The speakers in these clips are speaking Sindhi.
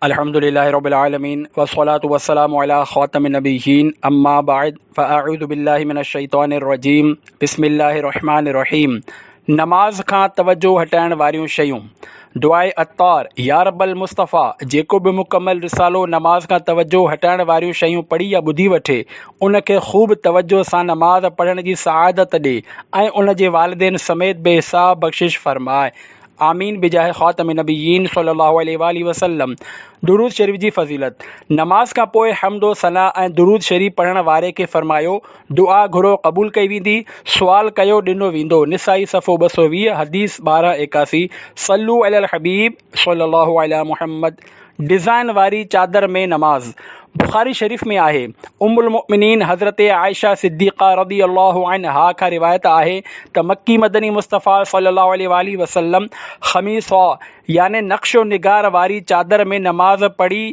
الحمد لله رب العالمين والصلاة والسلام علي خاتم النبيين اما بعد فاعوذ بالله من الشيطان الرجيم بسم الله الرحمن الرحيم نماز کان توجه هٽائڻ واريون شيون دعاء عطار يا رب المصطفيٰ جيڪو به مڪمل رسالو نماز کان توجه هٽائڻ واريون شيون پڙهي يا ٻڌي وٺي ان کي خوب توجه سان نماز پڙهڻ جي سعادت ڏي ۽ ان جي والدين سميت بي حساب بخشش فرماء آمين بجاهه خاتم النبيين صلّي الله عليه واٰله وسلّم، درود شريف جي فضيلت، نماز کان پوء حمد و ثنا ۽ درود شريف پڙهڻ واري کي فرمايو، دعا گهرو قبول ڪئي ويندي، سوال ڪيو ڏنو ويندو نسائي صفحو ٻه سؤ ويهه حديث ٻارهن ايڪاسي صلّو علي الحبيب صلّي الله علي محمّد. ڊزائن واري چادر ۾ نماز بخاري شريف ۾ آهي ام المؤمنين حضرت عائشه صديقه رضي الله عنها کان روايت آهي ته مڪي مدني مصطفيٰ صلي الله عليه واٰله وسلم خميصه يعني نقش و نگار واري چادر ۾ نماز پڙهي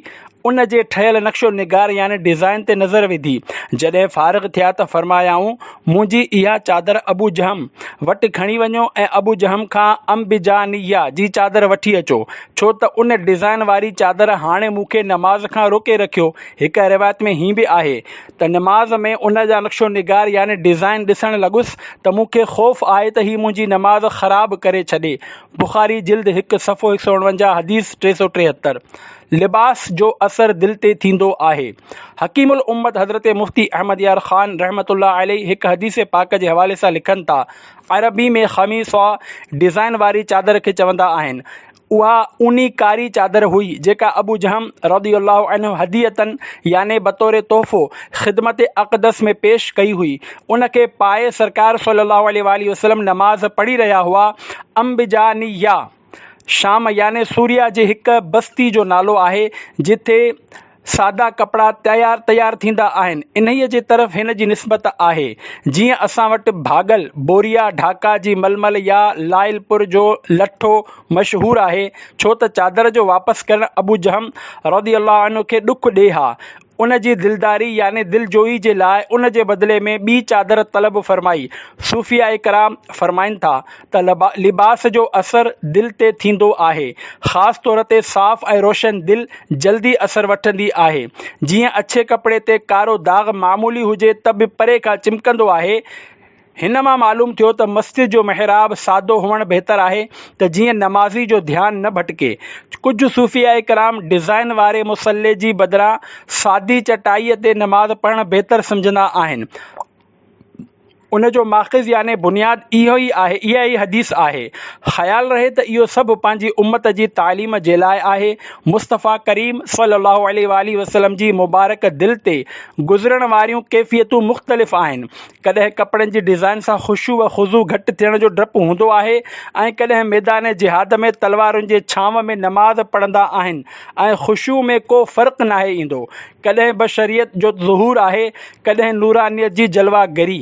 ان جي ٺهيل نقش و نگار يعني ڊزائن تي نظر وڌي جڏهن فارغ ٿيا ته فرمايائون منهنجي اها چادر ابو جهم وٽ کڻي وڃو ۽ ابو جهم کان امبجانيه جي چادر وٺي اچو، ڇو ته ان ڊزائين واري چادر هاڻي مون کي نماز کان روڪي رکيو. هڪ روايت ۾ هيئن به آهي ته نماز ۾ ان جا نقش و نگار يعني ڊزائين ڏسڻ لڳس ته مون کي خوف آهي ته هي منهنجي نماز خراب ڪري ڇڏي، بخاري جلد هڪ صفحو هڪ سؤ اڻونجاهه حديث ٽي سؤ ٽيهتر. لباس جو اثر دل تي ٿيندو آهي. حڪيم الامت حضرت مفتي احمد يار خان رحمة الله عليه هڪ حديث پاڪ جي حوالي سان لکن ٿا، عربي ۾ خميصه ڊزائن واري چادر کي چوندا آهن. اها اوني ڪاري چادر هئي جيڪا ابو جهم رضي الله عنه هديةً يعني بطور تحفو خدمت اقدس ۾ پيش ڪئي هئي. ان کي پائي سرڪار صلّي اللّٰه عليه واٰله وسلّم نماز پڙهي رهيا هئا. انبجانيه. شام يعني سوريا جي هڪ بستي جو نالو آهي جتي سادا ڪپڙا تيار تيار ٿيندا آهن انهيء جي طرف هن جي نسبت آهي جيئن اسان وٽ ڀاڳل بوريا ڍاڪا جي ململ يا لائل پور جو لٺو مشهور آهي ڇو ته چادر جو واپس ڪرڻ ابوجهم رضي الله عنه کي ڏک ڏي ها ان جي دلداري يعني دلجوئي جي لاء ان جي بدلي ۾ ٻي چادر طلب فرمائي. صوفياء ڪرام فرمائن ٿا ته لباس جو اثر دل تي ٿيندو آهي. خاص طور تي صاف ۽ روشن دل جلدي اثر وٺندي آهي. جيئن اڇي ڪپڙي تي ڪارو داغ معمولي هجي ته به پري کان چمڪندو آهي، هن مان معلوم ٿيو ته مسجد جو محراب سادو هئڻ بهتر آهي ته جيئن نمازي جو ڌيان نه ڀٽڪي. ڪجهه صوفياء ڪرام ڊزائين واري مصلي جي بدران سادي چٽائيء تي نماز پڙهڻ بهتر سمجهندا آهن. ان جو ماخذ يعني بنياد اهو ئي آهي، اها ئي حديث آهي. خيال رهي ته اهو سڀ پنهنجي امت جي تعليم جي لاء آهي. مصطفيٰ ڪريم صلّي اللّٰه عليه واٰله وسلّم جي مبارڪ دل تي گذرڻ واريون ڪيفيتون مختلف آهن. ڪڏهن ڪپڙن جي ڊزائن سان خشوع و خضوع گهٽ ٿيڻ جو ڊپ هوندو آهي ۽ ڪڏهن ميدان جهاد ۾ تلوارن جي ڇانو ۾ نماز پڙهندا آهن ۽ خشوع ۾ ڪو فرق ناهي ايندو. ڪڏهن به شريعت جو ظهور آهي ڪڏهن نورانيت جي جلوه گري.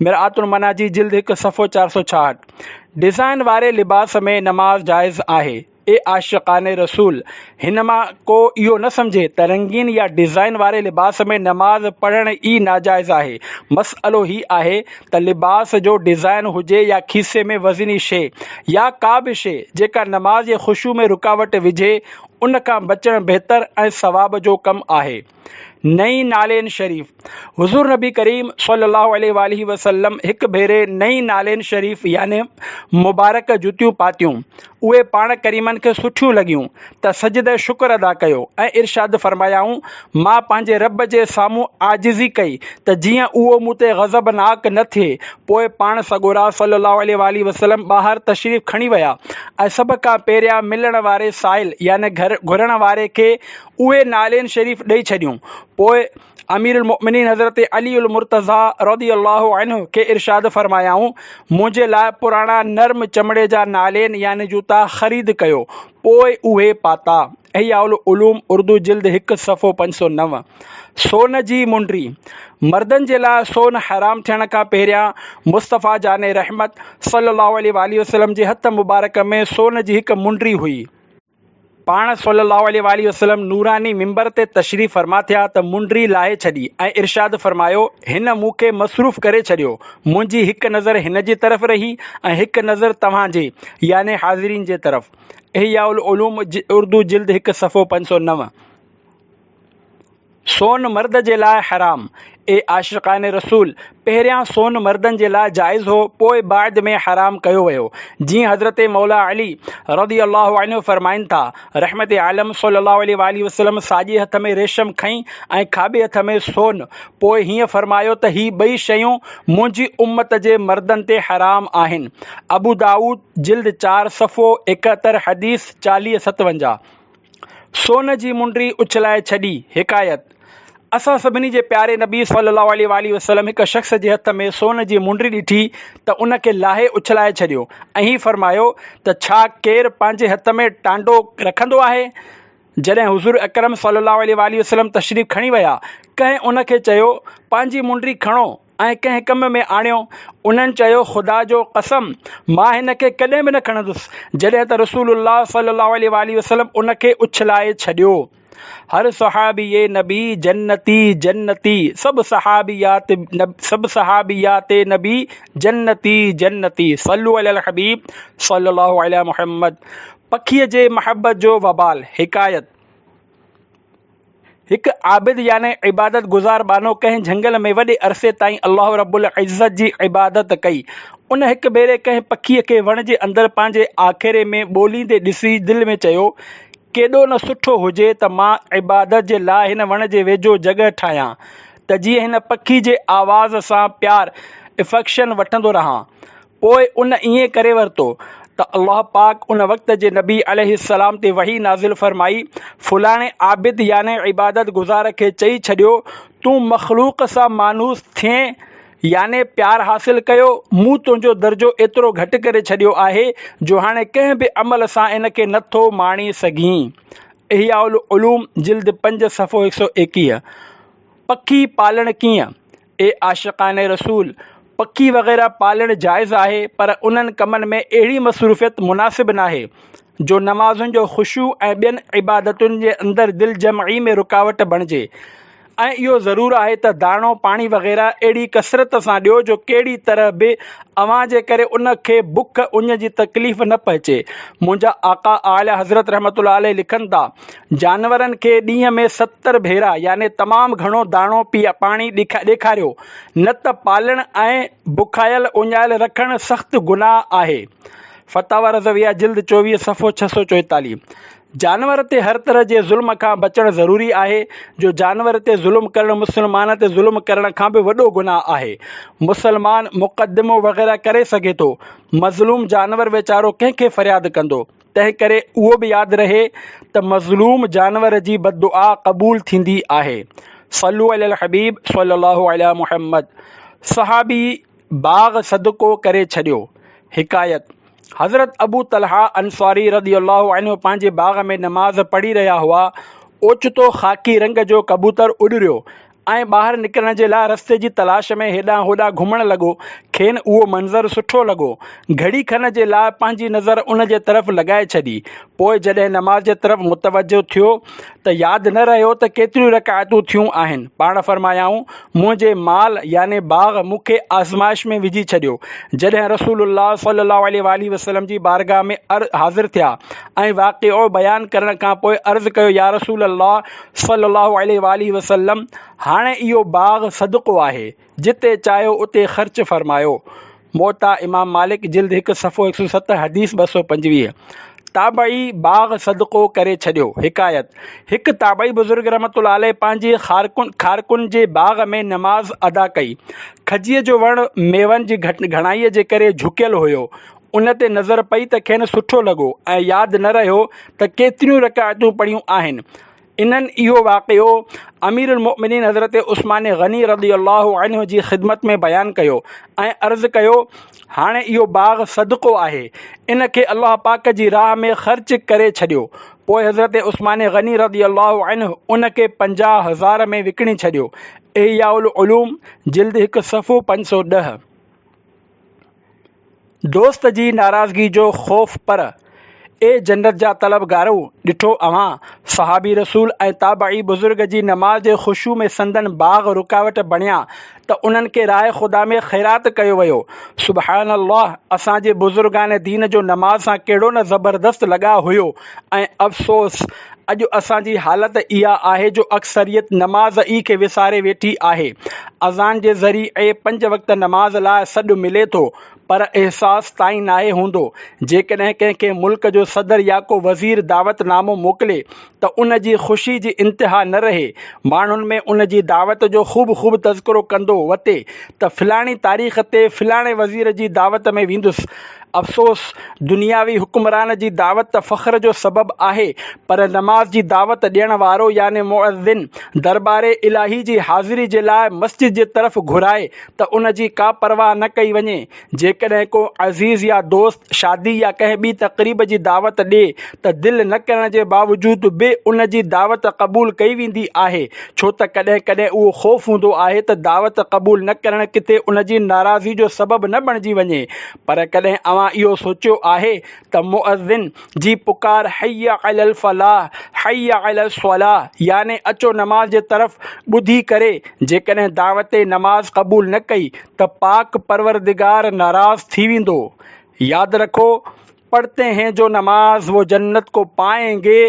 مرآت المناجي جلد هڪ صفحو چار سؤ ڇاهٺ. ڊزائن واري لباس ۾ نماز جائز آهي. اي عاشقان رسول! هن مان ڪو اهو نه سمجهي ته رنگين يا ڊزائين واري لباس ۾ نماز پڙهڻ ئي ناجائز آهي. مسئلو هي آهي ته لباس جو ڊزائين هجي يا کيسي ۾ وزني شيء يا ڪا به شيء جيڪا نماز جي خشوع ۾ رڪاوٽ وجهي، ان کان بچڻ بهتر ۽ ثواب جو ڪم آهي. نئين نالين شريف، حضور نبي ڪريم صلي الله عليه واٰله وسلم هڪ ڀيري نئين نالين شريف يعني مبارڪ جوتيون پاتيون، اهي پاڻ ڪريمن کي سٺيون لڳيون ته سجده شڪر ادا ڪيو ۽ ارشاد فرمايائون، مان پنهنجي رب جي سامهون عاجزي ڪئي ته جيئن اهو مون تي غضبناڪ نه ٿئي، پوء پاڻ سڳورا صلي الله عليه واٰله وسلم ٻاهر تشريف کڻي ويا ۽ سڀ کان پهريان ملڻ واري سائل يعني گهرڻ واري کي اهي نعلين شريف ڏئي ڇڏيون. پوء امير المؤمنين حضرت علي المرتضيٰ رضي الله عنه کي ارشاد فرمايائون، منهنجي لاء پراڻا نرم چمڙي جا نعلين يعني جوتا خريد ڪيو. پوء اهي پاتا. احياء العلوم اردو جلد هڪ صفحو پنج سؤ نو. سون جي منڊي، مردن جي لاء سون حرام ٿيڻ کان پهريان مصطفيٰ جان رحمت صلّي اللّٰه عليه واٰله وسلّم جي هٿ مبارڪ ۾ سون جي هڪ منڊي هئي. پاڻ صلّي اللّٰه عليه واٰله وسلّم نوراني منبر تي تشريف فرما ٿيا ته منڊري لاهي ڇڏي ۽ ارشاد فرمايو، هن مون کي مصروف ڪري ڇڏيو، منهنجي هڪ نظر هن جي طرف رهي ۽ هڪ نظر توهان جي، يعني حاضرين جي طرف. احياء العلوم، اردو، جلد هڪ، صفحو پنج سؤ نو. سون مرد جي لاء حرام، اي عاشقان رسول! پهريان سون مردن جي لاء جائز هو، پوء بعد ۾ حرام ڪيو ويو. جيئن حضرت مولا علي رضي الله عنه فرمائن ٿا، رحمت عالم صلّي اللّٰه عليه واٰله وسلّم ساڄي هٿ ۾ ريشم کنئي ۽ کاٻي هٿ ۾ سون، پوء هيئن فرمايو ته هي ٻئي شيون منهنجي امّت جي مردن تي حرام آهن. ابودائود جلد چار صفحو ايڪهتر حديث چاليهه ستونجاهه. سون جي منڊي اڇلائي ڇڏي. حڪايت، اسان سڀني جي پياري نبي صلّي اللّٰه عليه واٰله وسلّم هڪ شخص جي هٿ ۾ سون جي منڊي ڏٺي ته ان کي لاهي اڇلائي ڇڏيو ۽ فرمايو ته ڇا ڪير پنهنجي هٿ ۾ ٽانڊو رکندو آهي؟ جڏهن حضور اڪرم صلّي اللّٰه عليه واٰله وسلّم تشريف کڻي ويا، ڪنهن ان کي چيو، پنهنجي منڊي کڻو. ۽ ڪنهن ڪم ۾ آڻيو، انهن چيو خدا جو قسم مان هن کي ڪڏهن به نه کڻندس، جڏهن ته رسول الله صلي الله عليه واٰله وسلم ان کي اڇلائي ڇڏيو. هر صحابي اي نبي جنتي جنتي سڀ صحابي يا تي سڀ صحابي يا تي نبي جنتي جنتي صلو علي الحبيب صلي الله علي محمد پکيء جي محبت جو وبال حڪايت، هڪ عابد يعني عبادت گذار ٻانهو ڪنهن جهنگل ۾ وڏي عرصي تائين الله رب العزت جي عبادت ڪئي. ان هڪ ڀيري ڪنهن پکيء کي وڻ جي اندر پنهنجي آکيري ۾ ٻوليندي ڏسي دل ۾ چيو، ڪيڏو نه سٺو هجي ته مان عبادت جي لاء هن وڻ جي ويجهو جڳهه ٺاهيان ته جيئن هن پکي جي آواز سان پيار، Affection، وٺندو رهان. پوء ان ائين ڪري ورتو ته الله پاڪ ان وقت جي نبي عليه السلام تي وحي نازل فرمائي، فلاڻي عابد يعني عبادت گذار کي چئي ڇڏيو، تون مخلوق سان مانوس ٿئين يعني پيار حاصل ڪيو، مون تنهنجو درجو ايترو گهٽ ڪري ڇڏيو آهي جو هاڻي ڪنهن به عمل سان ان کي نه ٿو ماڻي سگهين. احياء العلوم جلد پنج صفحو هڪ سؤ ايڪيهه پکي پالڻ ڪيئن؟ اي عاشقان رسول! پکي وغيره پالڻ جائز آهي پر انهن ڪمن ۾ اهڙي مصروفيت مناسب ناهي، جو نمازن جو خشوع ۽ ٻين عبادتن جي اندر دل جمعي ۾ رڪاوٽ بڻجي ۽ اهو ضرور آهي ته داڻو پاڻي وغيره اهڙي ڪثرت سان ڏيو جو ڪهڙي طرح به اوهان جي ڪري ان کي بک اڃ جي تڪليف نه پهچي. منهنجا آقا اعليٰ حضرت رحمة الله عليه لکن ٿا. جانورن کي ڏينهن ۾ ستر ڀيرا يعني تمام گهڻو داڻو پاڻي ڏيکاريو، نه ته پالڻ ۽ بکايل اڃايل رکڻ سخت گناهه آهي. فتاويٰ رضويه جلد چوويهه صفحو ڇهه سؤ چويتاليهه جانور تي هر طرح جي ظلم کان بچڻ ضروري آهي، جو جانور تي ظلم ڪرڻ مسلمان تي ظلم ڪرڻ کان به وڏو گناهه آهي. مسلمان مقدمو وغيره ڪري سگهي ٿو، مظلوم جانور ويچارو ڪنهن کي فرياد ڪندو؟ تنهنڪري اهو به ياد رهي ته مظلوم جانور جي بددعا قبول ٿيندي آهي. صلو علي الحبيب صلي الله علي محمد صحابي باغ صدقو ڪري ڇڏيو حڪايت، حضرت ابو طلحه انصاري رضي الله عنه پنهنجي باغ ۾ نماز پڙهي رهيا هئا اوچتو خاڪي رنگ جو ڪبوتر اڏريو ۽ ٻاهر نڪرڻ جي لاء رستي جي تلاش ۾ هيڏانهن هوڏانهن گهمڻ لڳو. کين اهو منظر سٺو لڳو. گهڙي کن جي لاء پنهنجي نظر ان جي طرف لڳائي ڇڏي. پوء جڏهن نماز جي طرف متوجهه ٿيو ته ياد نه رهيو ته ڪيتريون رڪعتون ٿيون آهن. پاڻ فرمايائون، منهنجي مال يعني باغ مون کي آزمائش ۾ وجهي ڇڏيو. جڏهن رسول الله صلي الله عليه واٰله وسلم جي بارگاهه ۾ حاضر ٿيا ۽ واقعو بيان ڪرڻ کان پوء عرض ڪيو يا رسول الله! صلّي اللّٰه عليه واٰله وسلّم، هاڻي اهو باغ صدقو آهي، جتي چاهيو اتي خرچ فرمايو. موطا امام مالڪ جلد هڪ صفحو هڪ سؤ ست حديث ٻه سؤ پنجويهه، تابعي باغ صدقو ڪري ڇڏيو. حڪايت، هڪ تابعي بزرگ رحمة الله عليه پنهنجي خارڪن، کارڪن، جي باغ ۾ نماز ادا ڪئي. کجيء جو وڻ ميون جي گهڻائيء جي ڪري جهڪيل هيو. ان تي نظر پئي ته کين سٺو لڳو ۽ ياد نه رهيو ته ڪيتريون رڪعتون پڙهيون آهن. انهن اهو واقعو اميرالمؤمنين حضرت عثمان غني رضي الله عنه جي خدمت ۾ بيان ڪيو ۽ عرض ڪيو، هاڻي اهو باغ صدقو آهي، ان کي الله پاڪ جي راهه ۾ خرچ ڪري ڇڏيو. پوء حضرت عثمان غني رضي الله عنه ان کي پنجاهه هزار ۾ وڪڻي ڇڏيو، احياء العلوم، جلد هڪ صفحو پنج سؤ ڏهه. دوست جي ناراضگي جو خوف پر، اي جنت جا طلبگارؤ! ڏٺو اوهان، صحابي رسول ۽ تابعي بزرگ جي نماز جي خشوع ۾ سندن باغ رڪاوٽ بڻيا ته انهن کي راهه خدا ۾ خيرات ڪيو ويو. سبحان الله! اسان جي بزرگان دين جو نماز سان ڪهڙو نه زبردست لڳاء هيو ۽ افسوس! اڄ اسان جي حالت اها آهي جو اڪثريت نماز ئي کي وساري ويٺي آهي. اذان جي ذريعي پنج وقت نماز لاء سڏ ملي ٿو پر احساس تائين ناهي هوندو. جيڪڏهن ڪنهن کي ملڪ جو صدر يا ڪو وزير دعوت نامو موڪلي ته ان جي خوشي جي انتها نه رهي. ماڻهن ۾ ان جي دعوت جو خوب خوب تذڪرو ڪندو وتي ته فلاڻي تاريخ تي فلاڻي وزير جي دعوت ۾ ويندس. افسوس! دنياوي حڪمران جي دعوت ته فخر جو سبب آهي، پر نماز جي دعوت ڏيڻ وارو يعني مؤذن دربار الاهي جي حاضري جي لاء مسجد جي طرف گهرائي ته ان جي ڪا پرواهه نه ڪئي وڃي. جيڪڏهن ڪو عزيز يا دوست شادي يا ڪنهن ٻي تقريب جي دعوت ڏئي ته دل نه ڪرڻ جي باوجود به ان جي دعوت قبول ڪئي ويندي آهي، ڇو ته ڪڏهن ڪڏهن اهو خوف هوندو آهي ته دعوت قبول نه ڪرڻ ڪٿي ان جي ناراضي جو سبب نه بڻجي وڃي. پر ڪڏهن اوهان اهو سوچيو آهي ته مؤذن جي پڪار حي عل الفلاح، حي عل الصلاح يعني اچو نماز جي طرف ٻڌي ڪري جيڪڏهن دعوت نماز قبول نه ڪئي ته پاڪ پروردگار ناراض ٿي ويندو. ياد رکو! پڙھتي ھين جو نماز وو جنت ڪو پائين گي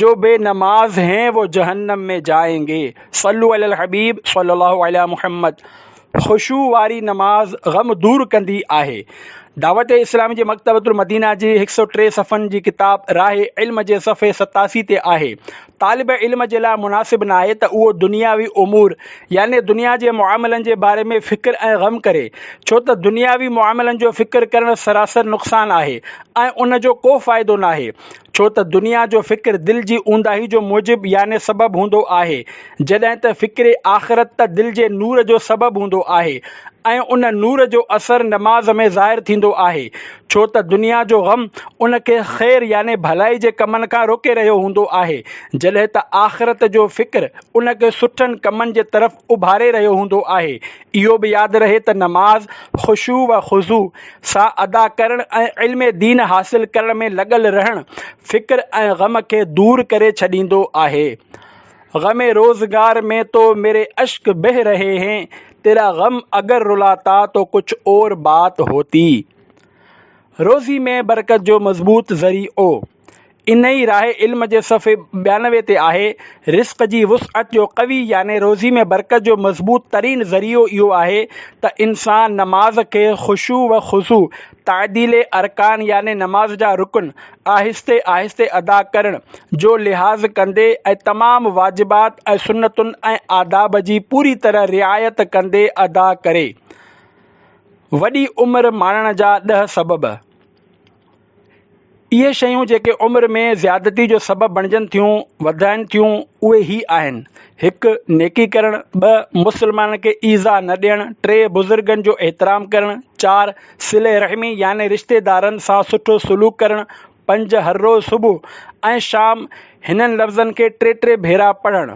جو بي نماز ھين وو جھنم ۾ جائين گي صلو علي الحبيب صلي الله علي محمد خشوع واري نماز غم دور ڪندي آھي دعوت اسلامي جي مڪتبة المدينه جي ھڪ سؤ ٽي صفحن جي ڪتاب راھ علم جي صفحي ستاسي تي آھي طالب علم جي لاء مناسب ناهي ته اهو دنياوي امور يعني دنيا جي معاملن جي باري ۾ فڪر ۽ غم ڪري، ڇو ته دنياوي معاملن جو فڪر ڪرڻ سراسر نقصان آهي ۽ ان جو ڪو فائدو ناهي، ڇو ته دنيا جو فڪر دل جي اونداهي جو موجب يعني سبب هوندو آهي، جڏهن ته فڪر آخرت ته دل جي نور جو سبب هوندو آهي ۽ ان نور جو اثر نماز ۾ ظاهر ٿيندو آهي، ڇو ته دنيا جو غم ان کي خير يعني ڀلائي جي ڪمن کان روڪي رهيو هوندو آهي، جڏهن ته آخرت جو فڪر ان کي سٺن ڪمن جي طرف اڀاري رهيو هوندو آهي. اهو به ياد رهي ته نماز خشوع و خضوع سان ادا ڪرڻ ۽ علم دين حاصل ڪرڻ ۾ لڳل رهڻ فڪر ۽ غم کي دور ڪري ڇڏيندو آهي. غم روزگار مين تو مري اشڪ بهه رهي هين تيرا غم اگر رلاتا تو ڪچھ اور بات هوتي روزي مين برڪت جو مضبوط ذري او انهي راهه علم جي صفحي ٻيانوي تي آهي رزق جي وسعت جو قوي يعني روزي مين برڪت جو مضبوط ترين ذريعو اهو آهي ته انسان نماز کي خشوع و خضوع تعديل ارڪان يعني نماز جا رڪن آهستي آهستي ادا ڪرڻ جو لحاظ ڪندي ۽ تمام واجبات ۽ سنتن ۽ آداب جي پوري طرح رعايت ڪندي ادا ڪري. وڏي عمر ماڻڻ جا ڏهه سبب. اهي شيون جيڪي عمر ۾ زيادتي جو سبب بڻجن ٿيون، وڌائن ٿيون، اهي هي آهن، هڪ، نيڪي ڪرڻ، ٻه، مسلمانن کي ايذاء نه ڏيڻ، ٽي، بزرگن جو احترام ڪرڻ، چار، صلي رحمي يعني رشتيدارن سان سٺو سلوڪ ڪرڻ، پنج، هر روز صبح ۽ شام هنن لفظن کي ٽي ٽي ڀيرا پڙهڻ.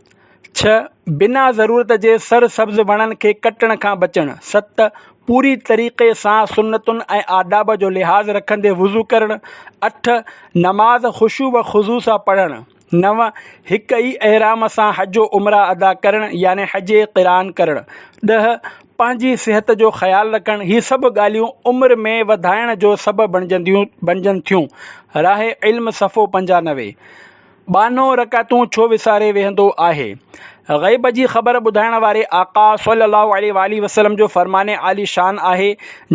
ڇهه، بنا ضرورت جي سر سبز وڻن کي ڪٽڻ کان بچڻ. ست، پوري طريقي سان سنتن ۽ آداب جو لحاظ رکندي وضو ڪرڻ. اٺ، نماز خشوع و خضوع سان پڙهڻ. نو، هڪ ئي احرام سان حج و عمره ادا ڪرڻ يعني حج قران ڪرڻ. ڏهه، پنهنجي صحت جو خيال رکڻ، هي سڀ ڳالهيون عمر ۾ وڌائڻ جو سبب بڻجن ٿيون. راه علم صفحو پنجانوي. ٻانهو رڪعتون ڇو وساري ويهندو آهي؟ غيب جي خبر ٻڌائڻ واري آقا صلّي اللّٰه عليه واٰله وسلّم جو فرمان عالي شان آهي،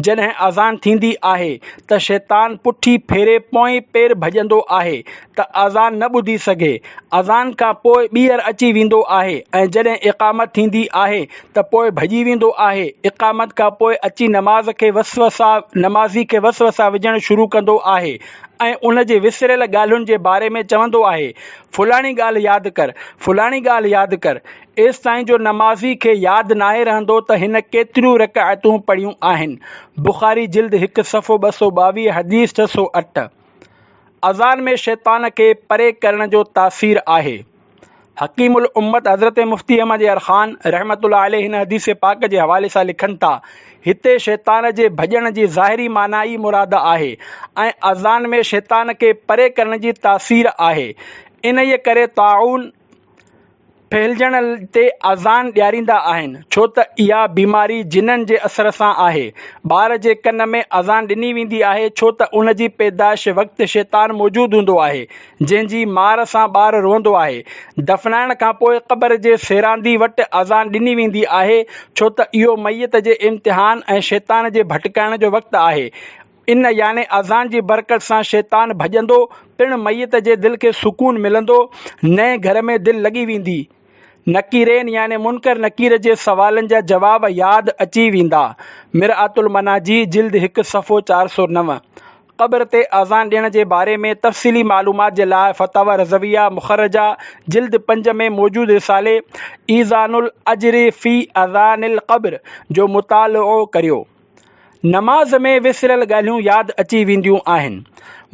جڏهن اذان ٿيندي آهي ته شيطان پٺي ڦيري پوئين پير ڀڄندو آهي ته اذان نه ٻڌي سگهي، اذان کان پوء ٻيهر اچي ويندو آهي ۽ جڏهن اقامت ٿيندي آهي ته پوء ڀڄي ويندو آهي، اقامت کان پوء اچي نماز کي وسوسا نمازي کي وسوسا وجهڻ شروع ڪندو آهي. ۽ ان جي وسريل ڳالهين جي باري ۾ چوندو آهي، فلاڻي ڳالهه ياد ڪر، فلاڻي ڳالهه ياد ڪر، ايستائين جو نمازي کي ياد ناهي رهندو ته هن ڪيتريون رڪعتون پڙهيون آهن. بخاري جلد هڪ صفحو ٻه سؤ ٻاويهه حديث ڇهه سؤ اٺ. اذان ۾ شيطان کي پري ڪرڻ جو تاثير آهي. حڪيم الامت حضرت مفتي احمد يار خان رحمة الله عليه هن حديث پاڪ جي حوالي سان لکن ٿا، هتي شيطان جي ڀڄڻ جي ظاهري معنيٰ ئي مراد آهي ۽ اذان ۾ شيطان کي پري ڪرڻ جي تاثير آهي. انهيء ڪري طاعون ڦهلجڻ تي اذان ڏياريندا آهن، ڇو ته اها بيماري جنن جي اثر سان آهي. ٻار جي ڪن ۾ اذان ڏني ويندي آهي، ڇو ته ان جي پيدائش وقت شيطان موجود هوندو آهي. جنهن جي مار سان ٻار روئندو آهي. دفنائڻ کان پوء قبر جي سيراندي وٽ اذان ڏني ويندي آهي، ڇو ته اهو ميت جي امتحان ۽ شيطان جي ڀٽڪائڻ جو وقت آهي. ان يعني اذان جي برڪت سان شيطان ڀڄندو، پڻ ميت جي دل کي سڪون ملندو، نئين گهر ۾ دل لڳي ويندي. نڪيرين يعني منڪر نڪير جي سوالن جا جواب ياد اچي ويندا. مرآة المناجي، جلد هڪ، صفحو چار سؤ نو. قبر تي آذان ڏيڻ جي باري ۾ تفصيلي معلومات جي لاء فتاويٰ رضويه مخرجه، جلد پنج ۾ موجود رسالي ايذان الاجر في اذان القبر جو مطالعو ڪريو. نماز ۾ وسريل ڳالهيون ياد اچي وينديون آهن.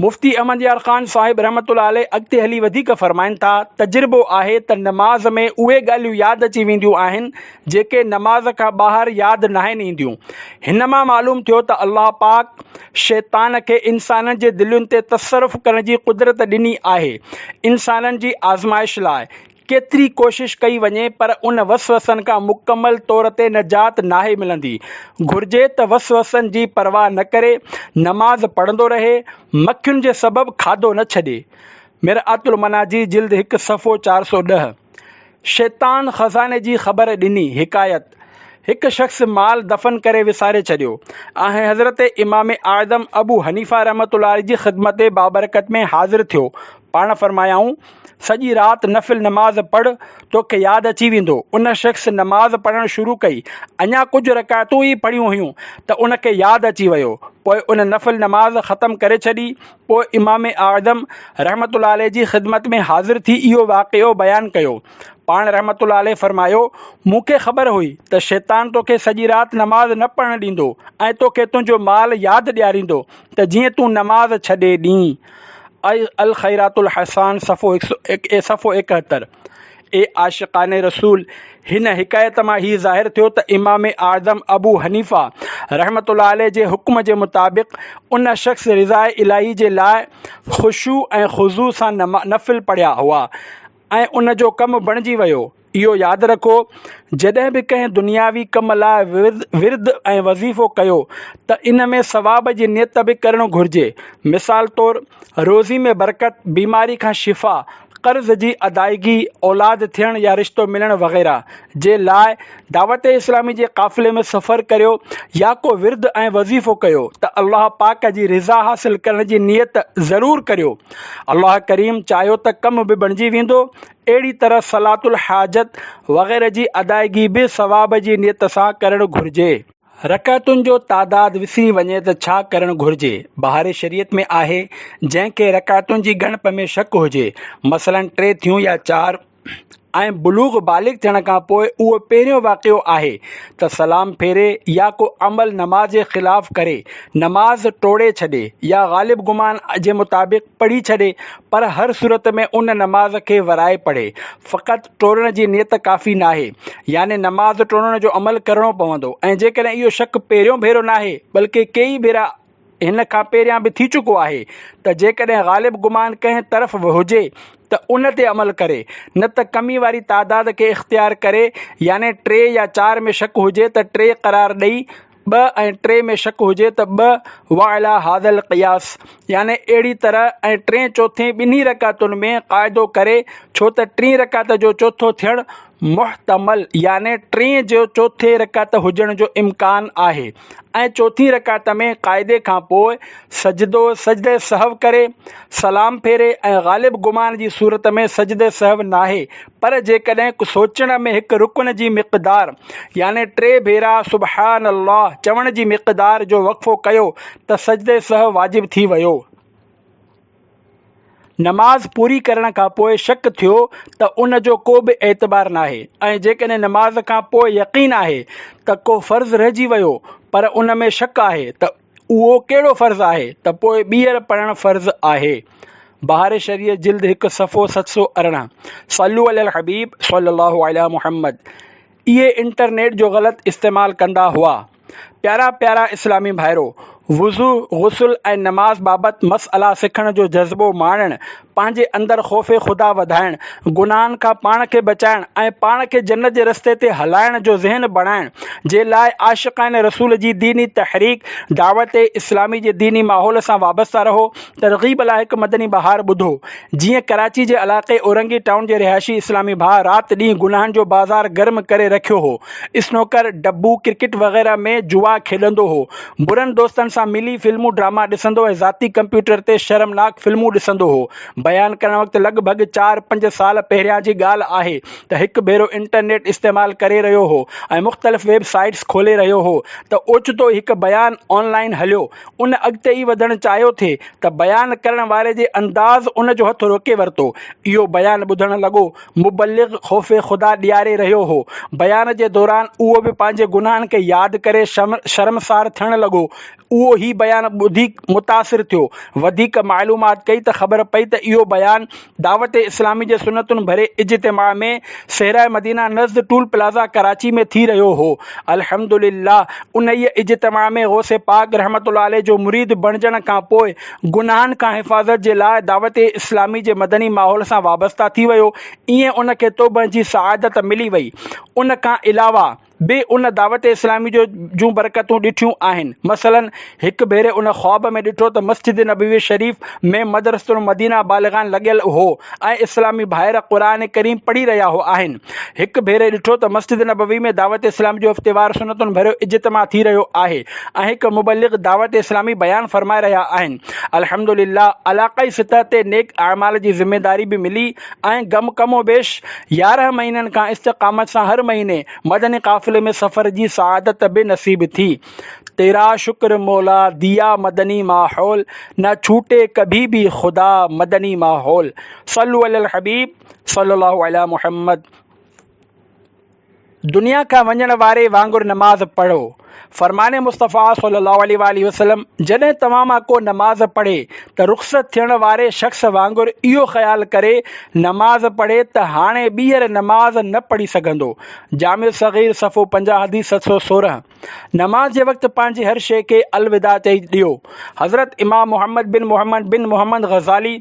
مفتي احمد يار خان صاحب رحمة الله عليه اڳتي هلي وڌيڪ فرمائن ٿا، تجربو آهي ته نماز ۾ اهي ڳالهيون ياد اچي وينديون آهن، جيڪي نماز کان ٻاهر ياد ناهن اينديون. هن مان معلوم ٿيو ته الله پاڪ شيطان کي انسانن جي دلين تي تصرف ڪرڻ جي قدرت ڏني آهي، انسانن جي آزمائش لاء، ڪيتري ڪوشش ڪئي وڃي پر ان وسوسن کان مڪمل طور تي نجات ناهي ملندي. گهرجي ته وسوسن جي پرواهه نه ڪري، نماز پڙهندو رهي، مکين جي سبب کاڌو نه ڇڏي. مرآت المناظير جلد هڪ صفحو چار سؤ ڏهه. شيطان خزاني جي خبر ڏني، حڪايت، هڪ شخص مال دفن ڪري وساري ڇڏيو ۽ حضرت امام اعظم ابو حنيفه رحمة الله عليه جي خدمت بابرڪت ۾ حاضر ٿيو، پاڻ فرمايائون، سڄي رات نفل نماز پڙهه، توکي ياد اچي ويندو. ان شخص نماز پڙهڻ شروع ڪئي، اڃا ڪجهه رڪعتون ئي پڙهيون هيون ته ان کي ياد اچي ويو، پوء ان نفل نماز ختم ڪري ڇڏي، پوء امام اعظم رحمة الله عليه جي خدمت ۾ حاضر ٿي اهو واقعو بيان ڪيو، پاڻ رحمة الله عليه فرمايو، مون کي خبر هئي ته شيطان توکي سڄي رات نماز نه پڙهڻ ڏيندو ۽ توکي تنهنجو مال ياد ڏياريندو ته جيئن تون نماز ڇڏي ڏين. اي الخيرات الحسان صفحو هڪ سؤ ايڪ اي صفحو ايڪهتر اي عاشقان رسول هن حڪايت مان هي ظاهر ٿيو ته امام اعظم ابو حنيفه رحمت الله عليه جي حڪم جي مطابق ان شخص رضاء الاهي جي لاء خشوع ۽ خضوع سان نفل پڙهيا هئا ۽ ان جو ڪم بڻجي ويو. اهو ياد رکو جڏهن به ڪنهن دنياوي ڪم لاء ورد ۽ وظيفو ڪيو ته ان ۾ ثواب جي نيت به ڪرڻ گهرجي. مثال طور روزي ۾ برڪت، بيماري کان شفا، قرض جي ادائگي، اولاد ٿيڻ يا رشتو ملڻ وغيره. جي لاء دعوت اسلامي جي قافلي ۾ سفر ڪريو يا ڪو ورد ۽ وظيفو ڪيو ته الله پاڪ جي رضا حاصل ڪرڻ جي نيت ضرور ڪريو الله ڪريم چاهيو ته ڪم به بڻجي ويندو اهڙي طرح صلات الحاجت وغيره جي ادائگي به ثواب جي نيت سان ڪرڻ گهرجي. رڪعتن جو تعداد وسري وڃي ته ڇا ڪرڻ گهرجي؟ بهاري شريعت ۾ آهي جنهن کي رڪعتن جي ڳڻپ ۾ شڪ هجي مثلا ٽي ٿيون يا چار، ۽ بلوغ بالغ ٿيڻ کان پوء اهو پهريون واقعو آهي ته سلام ڦيري يا ڪو عمل نماز جي خلاف ڪري، نماز ٽوڙي ڇڏي يا غالب گمان جي مطابق پڙهي ڇڏي پر هر صورت ۾ ان نماز کي ورائي پڙهي. فقط ٽوڙڻ جي نيت ڪافي ناهي يعني نماز ٽوڙڻ جو عمل ڪرڻو پوندو ۽ جيڪڏهن اهو شڪ پهريون ڀيرو ناهي بلڪه ڪيئي ڀيرا هن کان پهريان به ٿي چڪو آهي ته جيڪڏهن غالب گمان ڪنهن طرف به هجي ته ان تي عمل ڪري نه ته ڪمي واري تعداد کي اختيار ڪري يعني ٽي يا چار ۾ شڪ هجي ته ٽي قرار ڏئي ٻه ۽ ٽي ۾ شڪ هجي ته ٻه وعليٰ هذا القياس يعني اهڙي طرح ۽ ٽين چوٿين ٻنهي رڪعتن ۾ قاعدو ڪري ڇو ته ٽين رڪعت جو چوٿو ٿيڻ محتمل يعني ٽين جو چوٿين رڪعت هجڻ جو امڪان آهي ۽ چوٿين رڪعت ۾ قاعدي کان پوء سجدو، سجده سهو، ڪري، سلام ڦيري ۽ غالب گمان جي صورت ۾ سجده سهو ناهي پر جيڪڏهن سوچڻ ۾ هڪ رڪن جي مقدار يعني ٽي ڀيرا سبحان الله چوڻ جي مقدار جو وقفو ڪيو ته سجده سهو واجب ٿي ويو. نماز پوري ڪرڻ کان پوء شڪ ٿيو ته ان جو ڪو به اعتبار ناهي ۽ جيڪڏهن نماز کان پوء يقين آهي ته ڪو فرض رهجي ويو پر ان ۾ شڪ آهي ته اهو ڪهڙو فرض آهي ته پوء ٻيهر پڙهڻ فرض آهي بهار شريعت جلد هڪ صفحو ست سؤ ارڙهن صلو علي الحبيب صلي الله علي محمد اهي انٽرنيٽ جو غلط استعمال ڪندا هئا. پيارا پيارا اسلامي ڀائرو! وضو، غسل ۽ نماز بابت مسئلا سکڻ جو جذبو ماڻڻ، پنهنجي اندر خوف خدا وڌائڻ، گناهن کان پاڻ کي بچائڻ ۽ پاڻ کي جنت جي رستي تي هلائڻ جو ذهن بڻائڻ جي لاء عاشقان رسول جي ديني تحريڪ دعوت اسلامي جي ديني ماحول سان وابسته رهو ترغيب لاء هڪ مدني بهار ٻڌو، جيئن ڪراچي جي علائقي اورنگي ٽائون جي رهائشي اسلامي ڀاء رات ڏينهن گناهن جو بازار گرم ڪري رکيو هو. اسنوڪر، ڊبو، ڪرڪيٽ وغيره ۾ جوا کيڏندو هو. برن دوستن سان ملي فلمون ڊراما ڏسندو ۽ ذاتي ڪمپيوٽر تي شرمناڪ فلمون ڏسندو هو. بيان ڪرڻ وقت لڳ ڀڳ چار پنج سال پهريان جي ڳالهه آهي ته هڪ ڀيرو انٽرنيٽ استعمال ڪري رهيو هو ۽ مختلف ويب سائيٽس کولي رهيو هو ته اوچتو ئي هڪ بيان آن لائين هليو ان اڳتي ئي وڌڻ چاهيو ٿي ته بيان ڪرڻ واري جي انداز ان جو هٿ روڪي ورتو. اهو بيان ٻڌڻ لڳو. مبلغ خوف خدا ڏياري رهيو هو. بيان جي دوران اهو به پنهنجي گناهن کي ياد ڪري شرمسار ٿيڻ لڳو. اهو هي بيان ٻڌي متاثر ٿيو. وڌيڪ معلومات ڪئي ته خبر پئي ته اهو بيان دعوت اسلامي جي سنتن ڀري اجتماع ۾ صحرائي مدينه نزد ٽول پلازا ڪراچي ۾ ٿي رهيو هو. الحمدلله انهيء اجتماع ۾ غوث پاڪ رحمة الله عليه جو مريد بڻجڻ کان پوء گناهن کان حفاظت جي لاء دعوت اسلامي جي مدني ماحول سان وابسته ٿي ويو ائين ان کي توبه جي سعادت ملي وئي. ان کان علاوه به ان دعوت اسلامي جو جون برڪتون ڏٺيون آهن مثلاً هڪ ڀيري ان خواب ۾ ڏٺو ته مسجد نبوي شريف ۾ مدرسة المدينه بالغان لڳيل هو ۽ اسلامي ڀائر قرآن ڪريم پڙهي رهيا هو آهن هڪ ڀيري ڏٺو ته مسجد نبوي ۾ دعوت اسلامي جو هفتيوار سنتن ڀريو اجتماع ٿي رهيو آهي ۽ هڪ مبلغ دعوت اسلامي بيان فرمائي رهيا آهن الحمدلله علاقائي سطح تي نيڪ اعمال جي ذميداري به ملي ۽ گم ڪم و بيش يارهن مهينن کان استقامت سان هر مهيني مدني قافلي ۾ سفر جي سعادت به نصيب ٿي. تيرا شڪر مولا ديا مدني ماحول نه ڇوٽي ڪڀي ڀي خدا مدني ماحول صلو علی الحبيب صلي الله علی محمد. دنيا کان وڃڻ واري وانگر نماز پڙهو. فرمان مصطفيٰ صلّي الله عليه واٰله وسلّم جڏهن توهان مان ڪو نماز پڙهي ته رخصت ٿيڻ واري شخص وانگر اهو خيال ڪري نماز پڙهي ته هاڻي ٻيهر نماز نه پڙهي سگهندو. جامع صغير صفحو پنجاهه حديث ست سؤ سورهن. نماز جي وقت پنهنجي هر شيء کي الوداع چئي ڏيو. حضرت امام محمد بن محمد بن محمد غزالي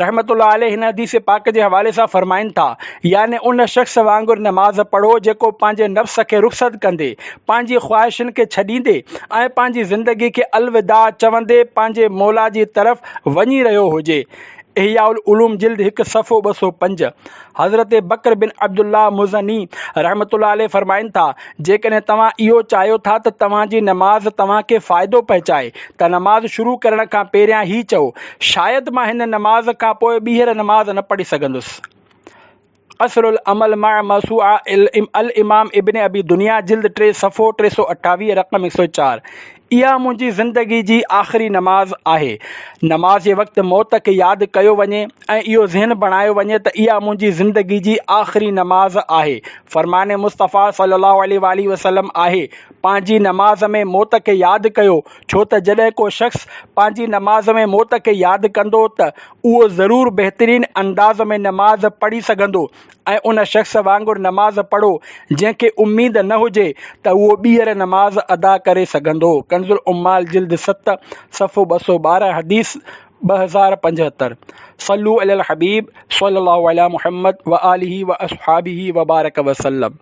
رحمة الله عليه هن حديث پاڪ جي حوالي سان فرمائن ٿا، يعني ان شخص وانگر نماز پڙهو جيڪو پنهنجي نفس کي رخصت ڪندي، پنهنجي خواهشن کي ڇڏيندي ۽ پنهنجي زندگي کي الوداع چوندي پنهنجي موليٰ جي طرف وڃي رهيو هجي. احياء العلوم جلد هڪ صفحو ٻه سؤ پنج. حضرت بڪر بن عبدالله مزني رحمة الله عليه فرمائن ٿا، جيڪڏهن توهان اهو چاهيو ٿا ته توهان جي نماز توهان کي فائدو پهچائي ته نماز شروع ڪرڻ کان پهريان هي چئو، شايد مان هن نماز کان پوء ٻيهر نماز نه پڙهي سگهندس. اصل العمل مع موسوعه الامام ابن ابي دنيا جلد ٽي صفحو ٽي سؤ اٺاويهه رقم هڪ سؤ چار. اها منهنجي زندگي جي آخري نماز آهي. نماز جي وقت موت کي ياد ڪيو وڃي ۽ اهو ذهن بڻايو وڃي ته اها منهنجي زندگي جي آخري نماز آهي. فرمان مصطفيٰ صلّي اللّٰه عليه واٰله وسلّم آهي، پنهنجي نماز ۾ موت کي ياد ڪيو، ڇو ته جڏهن ڪو شخص پنهنجي نماز ۾ موت کي ياد ڪندو ته اهو ضرور بهترين انداز ۾ نماز پڙهي سگهندو ۽ ان شخص وانگر نماز پڙهو جنهن کي اميد نه هجي ته اهو ٻيهر نماز ادا ڪري سگهندو، ڪنزالعمال جلد ست صفحو ٻه سؤ ٻارهن حديث ٻه هزار پنجهتر، صلو علي الحبيب صلي الله علي محمد وآله وأصحابه وبارڪ وسلم.